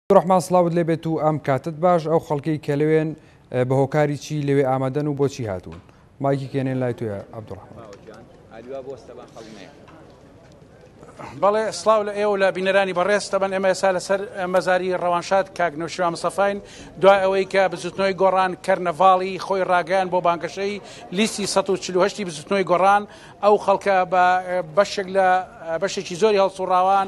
عەبدولڕەحمان سڵاوت لێ بێت و ئەم کاتت باش ئەو خەڵکەی کە لەوێن بە هۆکاری چی لەوێ ئامادەن و بۆچی هاتوون مایکی کێنێن لای توێ عەبدولڕەحمان بەڵێ سلااو لە ئێوە لە بینەرانی بەڕێستە بن ئێمە ئێسا لەسەر مەزاری ڕەوانشاد کاکنەوشیوا مسەفین دوای ئەوەی کە بزوتنەوەی گۆڕان کەرنەڤاڵی خۆی ڕاگەیان بۆ بانگەشەی لیستی 1940 بزوتنەوەی گۆڕان ئەو خەڵکە بە بەشێک لە بەشێکی زۆری هەڵسوڕاوان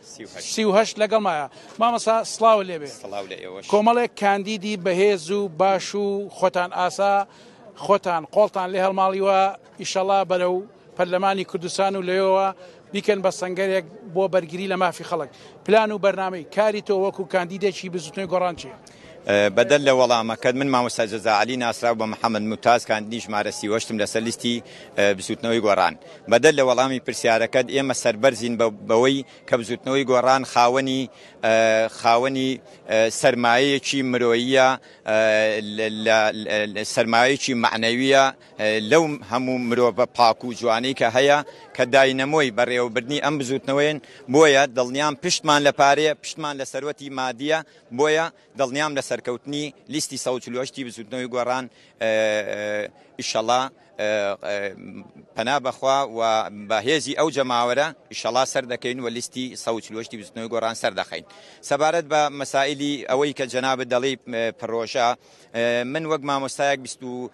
سی و هەشت لەگەڵمایە مامەسا سلااو لێبێ کۆمەڵێک کاندیدی بەهێز و باش و خۆتان ئاسا خۆتان قۆڵتان لێ هەڵماڵیوە ئیشەڵا بەرە و پەرلەمانی کوردستان و لەوەوە بیکەن بە سنگەرێک بۆ بەرگری لە مافی خەڵک پلان و بەرنمەی کاری تۆ وەکو کاندیدێکی بزوتنەوەی گۆڕانچی بەدەر لە وەڵامەکەت، من مامۆستا جەزا عەلی ناسراو بە محەمەد موتاز کاندیدی ژمارە سی و هەشتم لەسەر لیستی بزوتنەوەی گۆڕان. بەدەر لە وەڵامی پرسیارەکەت، ئێمە سەربەرزین بەوەی کە بزوتنەوەی گۆڕان خاوەنی خاوەنی سەرمایەیەکی مرۆییە سەرمایەیەکی مەعنەویە لەو هەموو مرۆڤە پاک و جوانەی کە هەیە کە داینەمۆی بەڕێوەبردنی ئەم بزوتنەوەیەن بۆیە دڵنیام پشتمان لە پارەیە پشتمان لە سەروەتی مادیە بۆیە دڵنیام لە سەرکەوتنی لیستی سەد و چل و هەشت ی بزوتنەوەی گۆڕان ئیشەڵا پەنا بەخوا و بە هێزی ئەو جەماوەرە ئیشەڵا سەردەکەین و لیستی سەد و چل و هەشت ی بزوتنەوەی گۆڕان سەردەخەین سەبارەت بە مەسائیلی ئەوەی کە جەنابت دەڵێی پرۆژە من وەک مامۆستایەک بیست و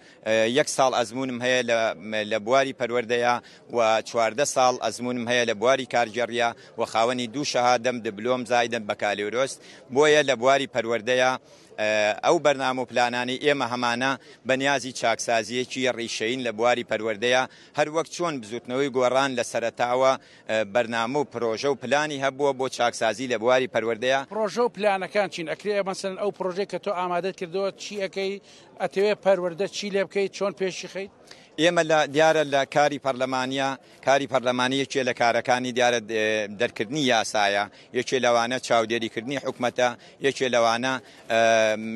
یەک ساڵ ئەزموونم هەیە لە بواری پەروەردەیا و چواردە ساڵ ئەزموونم هەیە لە بواری کارگێڕیا و خاوەنی دوو شەهادەم، دبلۆم زایدەم، بەکالۆرۆس، بۆیە لە بواری پەروەردەیا ئەو بەرنامە و پلانانەی ئێمە هەمانە بە نیازی چاکسازییەکی ڕیشەیین لە بواری پەروەردەیا هەر وەک چۆن بزووتنەوەی گۆڕان لە سەرەتاوە بەرنامە و پرۆژە و پلانی هەبووە بۆ چاکسازی لە بواری پەروەردەیا. پرۆژە و پلانەکان چین؟ ئەکرێ مەسەلەن ئەو پرۆژەی کە تۆ ئامادەت کردووە چی ئەکەی ئەتەوێت پەروەردە چی لێ بکەیت چۆن پێشی خەیت؟ ئێمە لە دیارە لە کاری پەرلەمانیا کاری پەرلەمانی یەکێ لە کارەکانی دیارە دەرکردنی یاسایە یەکێ لەوانە چاودێریکردنی حکوومەتە یەکێ لەوانە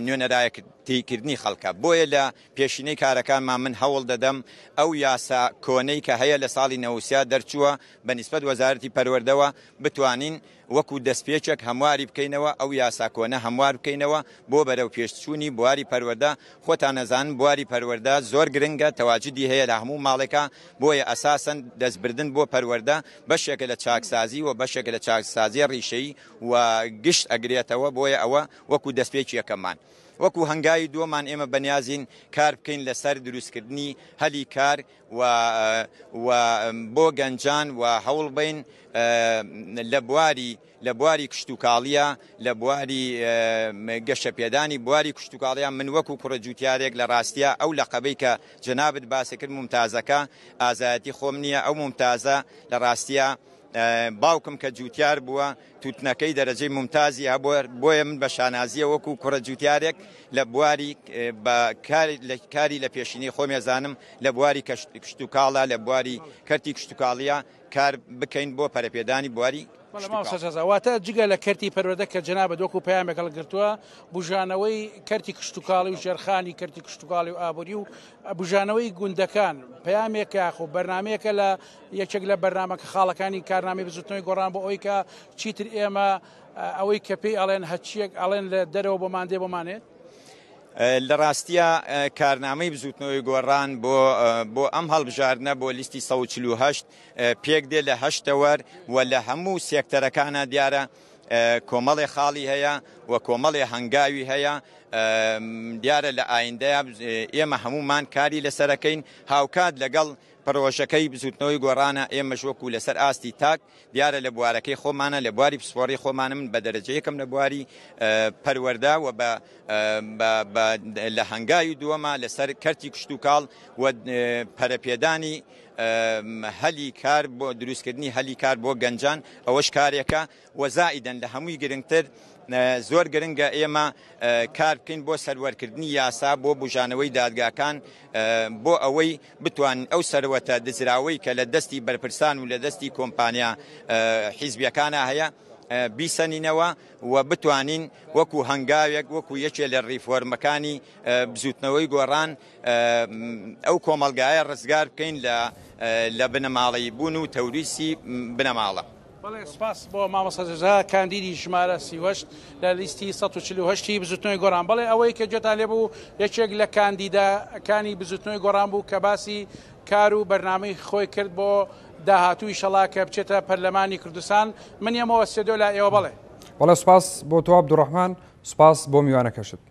نوێنەرایە تێکردنی خەڵکە بۆیە لە پێشینەی کارەکانمان من هەوڵ دەدەم ئەو یاسا کۆنەی کە هەیە لە ساڵی نەوسیا دەرچووە بە نسبت وەزارەتی پەروەردەوە بتوانین وەکو دەستپێکێک هەمواری بکەینەوە، ئەو یاسا کۆنە هەموار بکەینەوە بۆ بەرەو پێشچوونی بواری پەروەردە، خۆتان ئەزانن بواری پەروەردە زۆر گرنگە، تەواجودی هەیە لە هەموو ماڵێکا، بۆیە ئەساسەن دەست بردن بۆ پەروەردە بەشێکە لە چاکسازی و بەشێکە لە چاکسازیە ڕیشەیی و گشت ئەگرێتەوە، بۆیە ئەوە وەکو دەستپێکی یەکەممان. وەکو هەنگاوی دووەمان ئێمە بەنیازین کار بکەین لەسەر دروستکردنی هەلی کار، و و بۆ گەنجان و هەوڵ بین لە بواری لە بواری کشتوکاڵیە لە بواری گەشە پێدانی بواری کشتوکاڵیان من وەکو کوڕە جوتیارێک لە ڕاستە ئەو لە قەبەی کە جەنابت باسەکرد ممتازەکە ئازایەتی خۆم نییە ئەو ممتازە لە ڕاستە باوکم کە جووتیار بووە، تووتنەکەی دەرەجەی مومتازی هەبووە، بۆیە من بە شانازییە وەکوو کوڕە جووتیارێک لە بواری بە کاری لە پێشینەی خۆم ئەزانم لە بواری کشتوکاڵە، لە بواری کەرتی کشتوکاڵییە کار بکەین بۆ پەرەپێدانی بواری کشتوکاڵ. واتە جگە لە کەرتی پەروەردە کە جەنابت وەکوو پەیامێک هەڵگرتووە، بووژانەوەی کەرتی کشتوکاڵی و ژێرخانی کەرتی کشتوکاڵی و ئابووری و بووژانەوەی گوندەکان پەیامێکە یاخۆ بەرنامەیەکە لە یەکێک لە بەرنامەکە خاڵەکانی کارنامەی بزوتنەوەی گۆڕان بۆ ئەوەی کە چیتر ئێمە ئەوەی کە پێی ئەڵێن هەچیەک ئەڵێن لە دەرەوە بۆ مادێ بۆ مانێت لە ڕاستیە کارنامەی بزوتنەوەی گۆڕان بۆ بۆ ئەم هەڵبژاردنە بۆ لیستی 1940 پێک دێ لە هەشتەوەر و لە هەموو سێکتەرەکانە دیارە کۆمەڵێ خاڵی هەیە و کۆمەڵێ هەنگاوی هەیە دیارە لە ئایندەیە ئێمە هەمومان کاری لەسەرەکەین هاوکات لەگەڵ پڕۆژەکەی بزوتنەوەی گۆڕانە، ئێمەش وەکو لەسەر ئاستی تاک، دیارە لە بوارەکەی خۆمانە، لە بواری پسپۆڕی خۆمانە، من بە دەرەجە یەکم لە بواری پەروەردە و بە لە هەنگاوی دووەمە لەسەر کەرتی کشتوکاڵ و پەرەپێدانی هەلی کار بۆ دروستکردنی هەلی کار بۆ گەنجان، ئەوەش کارێکە. وە زائیدەن لە هەمووی گرنگتر زۆر گرنگە ئێمە کار بکەین بۆ سەروەرکردنی یاسا بۆ بوژانەوەی دادگاکان بۆ ئەوەی بتوانین ئەو سەروەتە دزراوەی کە لە دەستی بەرپرسان و لە دەستی کۆمپانیا حیزبیەکانا هەیە بیسەنینەوە و بتوانین وەکو هەنگاوێک وەکو یەکێ لە ڕیفۆرمەکانی بزوتنەوەی گۆڕان ئەو کۆمەلگایە ڕزگار بکەین لە لە بنەماڵەی بوون و تەوریسی بنەماڵە. بەڵێ سپاس بۆ مامۆستا جەزا کاندیدی ژمارە سی وەشت لە لیستی 1940 هی بزوتنەوەی گۆڕان بەڵێ ئەوەی کە جێتان لێ بوو یەکێک لە کاندیدەکانی بزوتنەوەی گۆڕان بوو کە باسی کار و بەرنامەی خۆی کرد بۆ داهاتووی شەڵا کە بچێتە پەرلەمانی کوردستان من یەمەوە سێدۆ لا ئێوە بڵێ بەڵێ سپاس بۆ تۆ عبدالرحمن سپاس بۆ میوانەکەشت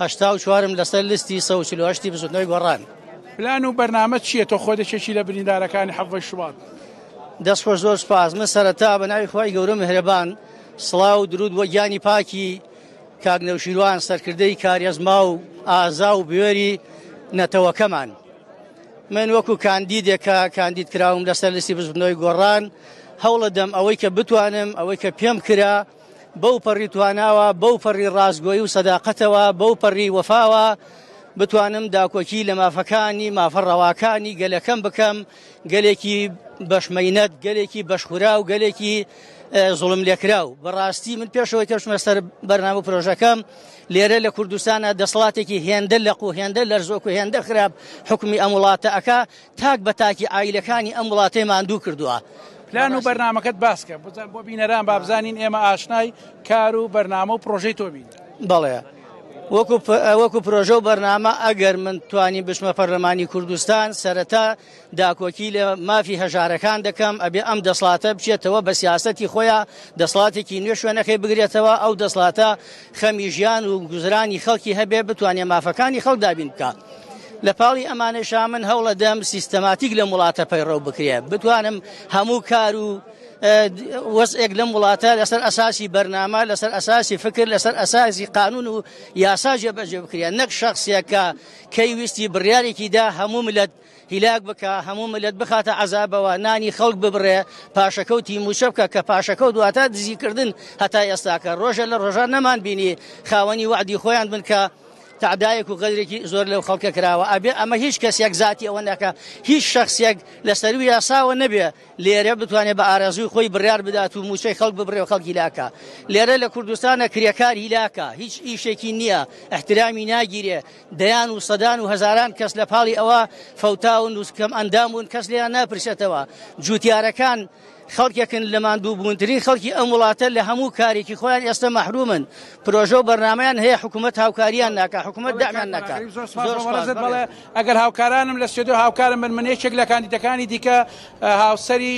هەشتا و چوارم لەسەر لستی سەد و چل و هەشتی بزوتنەوەی گۆڕان. پلان و بەرنامەت چیە تۆ خۆت یەکێکی لە بریندارەکانی حەڤدەی شوبات؟ دەست خۆش زۆر سوپاس من سەرەتا بە ناوی خوای گەورە میهرەبان سڵاو و درود بۆ گیانی پاکی کاک نەوشیروان سەرکردەی کارێزما و ئازا و بوێری نەتەوەکەمان من وەکو کاندیدێکە کاندید کراوم لەسەر لسی بزبنەوەی گۆڕان هەوڵە دەم ئەوەی کە بتوانم ئەوەی کە پێم کرا بەو پەڕی تواناوە، بەو پەڕی ڕاستگۆی و سەداقەتەوە، بەو پەڕی وەفاوە بتوانم داکۆکی لە مافەکانی، مافە ڕەواکانی گەلەکەم بکەم، گەلێکی بەش مەینەت، گەلێکی بەشخوراو، گەلێکی زوڵم لێکراو. بەڕاستی من پێشەوەی کەشمە سەر بەرنامە پرۆژەکەم لێرە لە کوردستانە دەسەڵاتێکی هێندە لەق و هێندە لەرزۆک و هێندە خراپ حکومی ئەم وڵاتە ئەکا تاک بە تاکی عایلەکانی ئەم وڵاتەی ماندوو کردووە. پلان و بەرنامەکەت باسکە بۆ بینەران بابزانین ئێمە ئاشنای کار و بەرنامە و پرۆژەی تۆبین. بەڵێ وەکو پرۆژە و بەرنامە ئەگەر من توانی بچمە پەرلەمانی کوردستان سەرەتا داکۆکی لە مافی هەژارەکان دەکەم ئەبێ ئەم دەسڵاتە بچێتەوە بە سیاستی خۆیان دەسڵاتێکی نوێ شوێنەکەی بگرێتەوە ئەو دەسڵاتە خەمی ژیان و گوزرانی خەڵکی هەبێ بتوانێ مافەکانی خەڵک دابین بکە لە پاڵی ئەمانەشا من هەوڵە دەم سیستەماتیک لەم وڵاتە پەیڕەو بکرێ بتوانم هەموو کار و وەزئێک لەم وڵاتە لەسەر ئەساسی بەرنامە لەسەر ئەساسی فکر لەسەر ئەساسی قانون و یاسا جێبەجێ بکرێن نەک شخصێکە کەی ویستی بڕیارێکی دا هەموو ملت هیلاک بکا هەموو ملت بخاتە عەزابەوە نانی خەڵک ببڕێ پاشەکەوتی موچە بکە کە پاشەکەوت دواتە دزیکردن هەتا ئێستاکە ڕۆژە لە ڕۆژان نەمان بینی خاوەنی وعدی خۆیان بن کە تعدایەک و غەدرێکی زۆر لەو خەڵکە کراوە ئەبێ ئەمە هیچ کەسێک زیاتی ئەوە نەکە هیچ شخصێک لە سەروی یاساوە نەبێ لێرە بتوانێت بە ئارەزوی خۆی بڕار بدات و موچەی خەڵک ببرێ و خەڵکی لاکە لێرە لە کوردستانە کرێکار هیلاکە هیچ ئیشێکی نییە احترامی ناگیرێ دەیان و سەدان و هەزاران کەس لە پاڵی ئەوە فەوتاون و کەم ئەندام بوون کەس لێیان ناپرسێتەوە جوتیارەکان خەڵکێکن لە ماندوو بوونترین خەڵکی ئەم وڵاتە لە هەموو کارێکی خۆیان ئێستا مەحرومن پرۆژە و بەرنمەیان هەیە حکوومەت هاوکاریان ناکە حکوومەت دامیان ناکە ئەگەر هاوکارانم لە سێدۆ هاوکارم من من یەکێک لە کاندیدەکانی دیکە هاوسری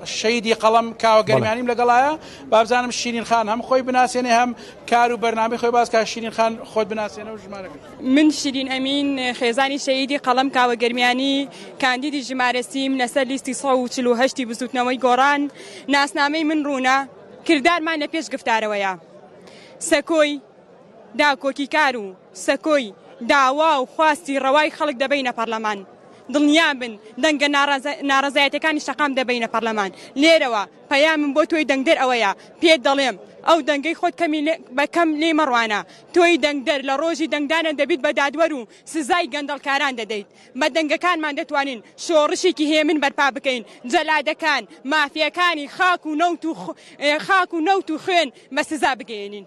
شەیدی قەڵم کاوەگەرمانیم لەگەڵایە بابزانم شیرین خان هەم خۆی بناسێنێ هەم کار و بەرنامەی خۆی باس کا شیرین خان خۆت بناسێنە و ژمارەکەت. من شیرین ئەمین خێزانی شەهیدی قەڵەم کاوە گەرمیانی کاندیدی ژمارە سی م لەسەر لیستی سەد و چل و هەشت ی بزوتنەوەی گۆڕان ناسنامەی من ڕوونە کردارمان لە پێش گفتارەوەیە سەکۆی داکۆکیکار و سەکۆی داوا و خواستی ڕەوای خەڵک دەبەینە پەڕلەمان دڵنیابن دەنگە ناڕەزایەتەکانی شەقام دەبەینە پەڕلەمان لێرەوە پەیامم بۆ تۆی دەنگدەر ئەوەیە پێت دەڵێم ئەو دەنگەی خۆت کەمی بە کەم لێی مەڕوانە تۆی دەنگدەر لە ڕۆژی دەنگدانە دەبیت بە دادوەر و سزای گەندەڵکاران دەدەیت بە دەنگەکانمان دەتوانین شۆڕشێکی هێمن بەرپا بکەین جەلادەکان مافیاکانی خاک و نەوت و خاک و نەوت و خوێن بە سزا بگەیەنین.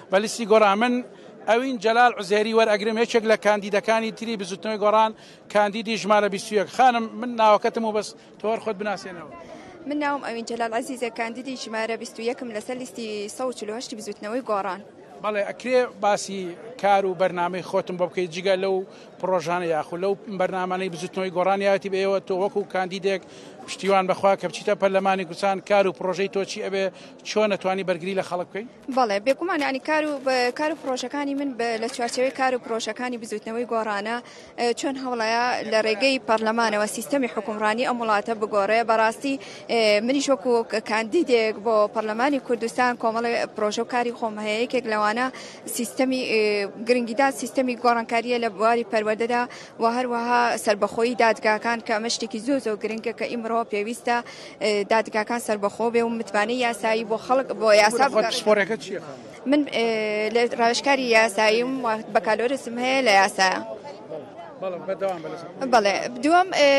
بە لیستی گۆڕان من ئەوین جەلال عوزێری وەرئەگرم یەکێک لە کاندیدەکانی تری بزوتنەوەی گۆڕان کاندیدی ژمارە 21 خانم من ناوەکەتم و بەس تۆر خۆت بناسێنەوە. من ناوم ئەوین جەلال عەزیزە کاندیدی ژمارە 21م لەسەر لیستی 148 بزوتنەوەی گۆڕان. بەڵێ ئەکرێ باسی کار و بەرنمەی خۆتم بۆ بکەیت جگە لەو پرۆژانە یاخو لەو بەرنمانەی بزوتنەوەی گۆڕانیاتی بەێوە تۆ وەکو کاندیدێک پشتیوان بەخوا کە بچیتە پەرلەمانی کوردستان کار و پرۆژەی تۆچی ئەبێ چۆن نتوانی بەرگری لە خەڵک بکەین بەڵێ بێگومان یانی کار و کار و پرۆژەکانی من لە چوارچەوەی کار و پرۆژەکانی بزوتنەوەی گۆڕانە چۆن هەوڵەیە لە ڕێگەی پەرلەمانەوە سیستەمی حکومڕانی ئەم وڵاتە بگۆڕێ بەڕاستی منی شۆکو کاندیدێک بۆ پەرلەمانی کوردستان کۆمەڵی پرۆژە و کاری خۆم هەیە یەکێک لەوانە سیستەمی گرنگیدا سیستەمی گۆڕانکاریە لە بواری پەروەدەدا و هەروەها سربەخۆی دادگاکان کە ئەمە شتێکی زۆ زۆ گرنگە کە ئیمڕۆ پێویستە دادگاکان سەربەخۆ بێ و متمانەی یاسایی بۆ خەڵک بۆ یاسا خۆت بگەڕێ. پسپۆڕیەکەت چیە؟ من لە ڕاوێژکاری یاساییم و بەکالۆرسم هەیە لە یاسا. بەڵێ بەردەوام بە لەسەر خۆت. بەڵێ دووەم ئێ،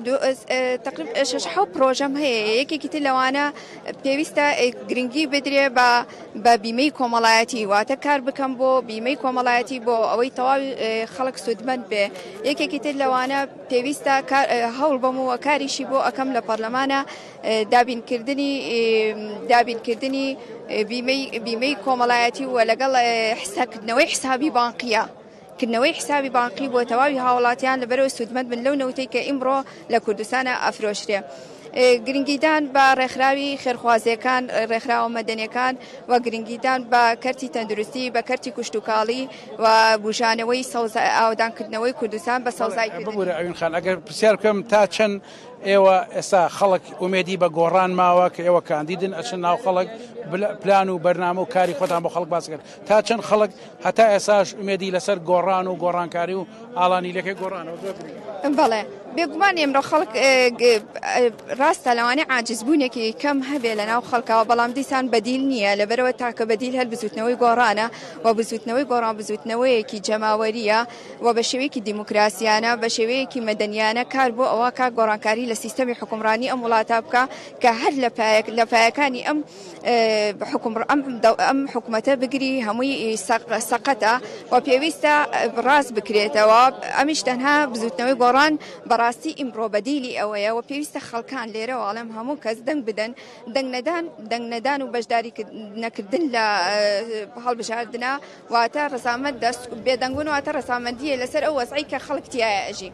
دوو ئێس، ئێ، تەقریب ئێ شەش حەو پڕۆژەم هەیە یەکێکی تر لەوانە پێویستە ئێ گرنگی بدرێ بە بە بیمەی کۆمەڵایەتی واتە کار بکەم بۆ بیمەی کۆمەڵایەتی بۆ ئەوەی تەواوی ئێ خەڵک سوودمەند بێ یەکێکی تر لەوانە پێویستە کار هەوڵ بەم و کاریشی بۆ ئەکەم لە پەرلەمانە دابین کردنی دابین کردنی بیمەی بیمەی کۆمەڵایەتی و لەگەڵ حساکردنەوەی حسابی بانقیە کردنەوەی حسابی بانقی بۆ تەواوی هاوڵاتیان لە بەرەوە سوودمەند من لەو نەوتەی کە ئیمڕۆ لە کوردستانە ئەفرۆشرێ. گرنگیدان بە ڕێکخراوی خێرخوازیەکان ڕێکخراوە مەدەنیەکان و گرنگیدان بە کەرتی تەندروستی بە کەرتی کوشتتوکاڵی و بوژانەوەی سەوزا ئاوەدان کردنەوەی کوردستان بە سەوزای کردنی. ببورە ئەوین خان ئەگەر پرسیار بکەم تا چەند ئێوە ئێستا خەڵک ئومێدی بە گۆڕان ماوە کە ئێوە کاندیدن ئەچن ناو خەڵک بلە- پلان و بەرنامە و کاری خۆتان بۆ خەڵک باس کرد تا چەند خەڵک هەتا ئێساش ئومێدی لەسەر گۆڕان و گۆڕانکاری و ئالانی لەکەی گۆڕانەوە زۆر گرنگە. بەڵێ بێگومان ئێمڕۆ خەڵک ئێ، گ، ئێ، ڕاستە لەوانەیە عاجزبوونێکی کەم هەبێ لەناو خەڵکەوە بەڵام دیسان بەدیل نییە لەبەرئەوە تاکە بەدیل هەر بزووتنەوەی گۆڕانە. و بزووتنەوەی گۆڕان بزووتنەوەیەکی جەماوەریە و بە شێوەیەکی دیموکراسیانە بە شێوەیەکی مەدەنیانە کار بۆ ئەوە کا گۆڕانکاری لە سیستەمی حکومڕانی ئەم وڵاتە بکە کە هەر لە پایەک لە پایەکانی ئەم حکومڕ ئەم حکوومەتە بگری هەمووی سەقەتە و پێویستە ڕاست بکرێتەوە ئەمیش تەنها بزووتنەوەی گۆڕان بەڕاستی ئیمڕۆ بەدیلی ئەوەیە و پێویستە خەڵکان لێرەواڵم هەموو کەس دەنگ بدەن دەنگنەدان، دەنگنەدان و بەشداری نەکردن لە هەڵبژاردنا واتە ڕزامەت دەست بێدەنگون واتە ڕزامەندیە لەسەر ئەو وەزعی کە خەڵک تایە ئەژی.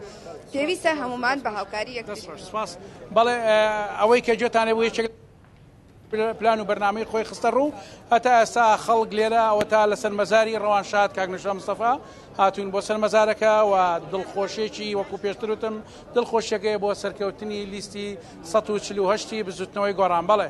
پێویستە هەمومان بە هاوکاری یەکتر. بەڵێ ئەوەی کە جێتان لێ بوو یەکێک پلان و بەرنامەی خۆی خستە ڕوو هەتا ئێستا خەڵک لێرە ئەوە تا لەسەر مەزاری ڕەوان شاد کاک نەژا مستەفا هاتوون بۆ سەر مەزارەکە و دڵخۆشێکی وەکو پێشتروتم دڵخۆشیەکەیە بۆ سەرکەوتنی لیستی سەد و چل و هەشت ی بزوتنەوەی گۆڕان بەڵێ.